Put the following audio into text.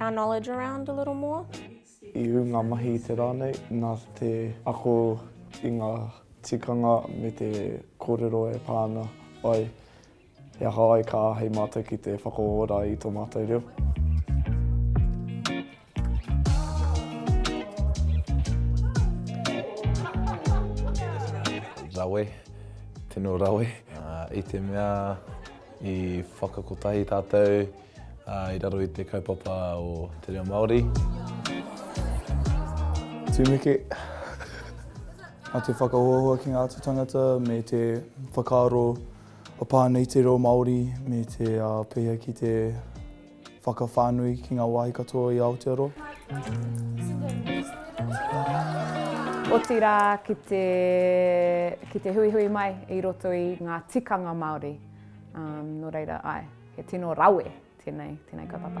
our knowledge around a little more. I ū ngā mahi i te rā nei nā te ako i ngā tikanga me te kōrero e pā ana ai he aha ai ka āhei mātou ki te whakaora i tō mātou reo. Rawe, tino rawe. I te mea i whakakotahi tātou. I raro i te kaupapa o te reo Māori. Tumeke. Nā te whakahoahoa ki ngā atu tangata me te whakaaro o pā nei te reo Māori me te pēhea ki te whakawhānui ki ngā wāhi katoa i Aotearoa. Otirā ki te, ki te huihui mai i roto i ngā tikanga Māori. Nō reira, āe. He tino rawe tenei, tenei kaupapa.